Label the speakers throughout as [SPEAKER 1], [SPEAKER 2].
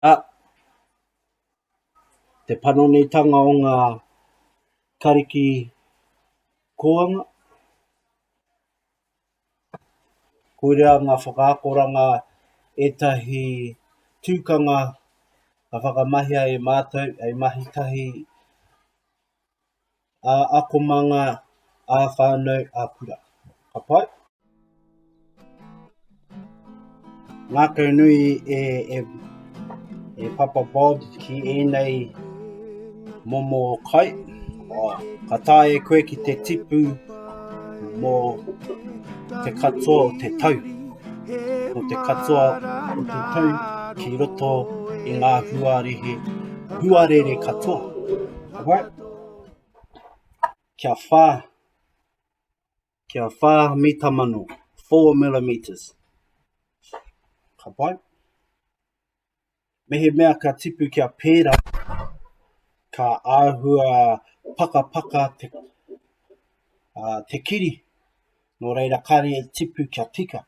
[SPEAKER 1] Ā, te panonitanga o ngā kariki kōanga, koirā ngā whakaakoranga ētahi tūkanga ka whakamahia e mātou hei mahi tahi, ā-akomanga, ā-whānau, ā-kura. Ka pai? Ngākaunui e, e, e Papa Bob ki ēnei momo kai. Oh, ka tae koe ki te tipu mō te katoa o te tau. Mō te katoa o te tau ki roto i ngā huarehe, huarere katoa. Alright? kia wha, kia wha mita mano, 4 millimeters. Ka pai? Mehe mea ka tipu kia pēra, ka āhua pakapaka te, uh, te kiri, nō reira kāre e tipu kia tika.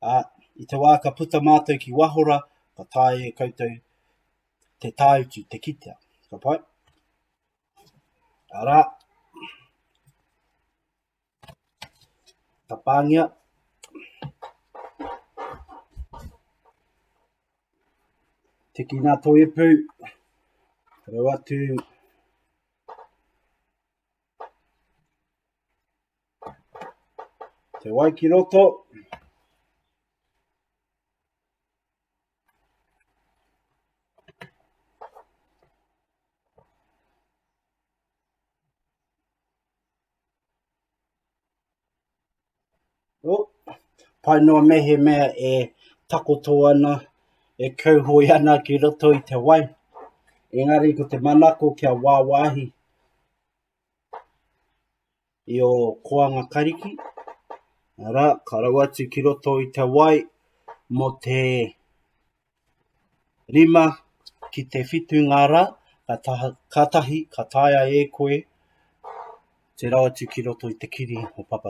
[SPEAKER 1] Ā, i te wā ka puta mātou ki waho rā, ka taea e koutou te tāutu, te kitea. Ka pai? Arā, ka pāngia. Tiki nā tō ipu, rau atu. Te wai ki roto. Oh, pai noa me he mea e takoto ana, e kauhoi ana ki roto i te wai. Engari ko te manako kia wāwāhi. i o Koanga Kariki, ara, ka rau atu ki roto i te wai mo te rima ki te whitu ngā rā, ka taha, ka tahi, ka taea e koe te rau atu ki roto i te kiri o Papa.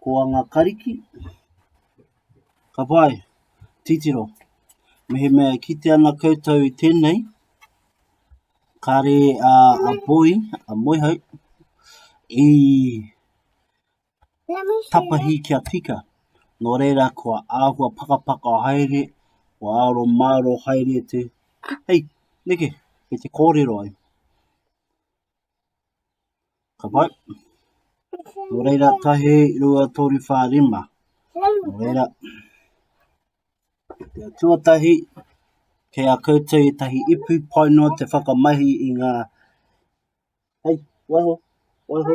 [SPEAKER 1] Ko anga kariki, ka pai, titiro. Mehemea e kite ana koutou i tenei, kare a, a boi, a moihau, i tapahi kia tika. Nō reira kua āhua pakapaka haere, kua aro māro haere te, hei, neke, kei te kōrero ai. Ka pai. Nō reira, tahi, rua, tōru, whā, rima. Nō reira. Te tuatahi, kei a koutou i tahi ipu pai noa te whakamahi i ngā... Hei, waiho, waiho.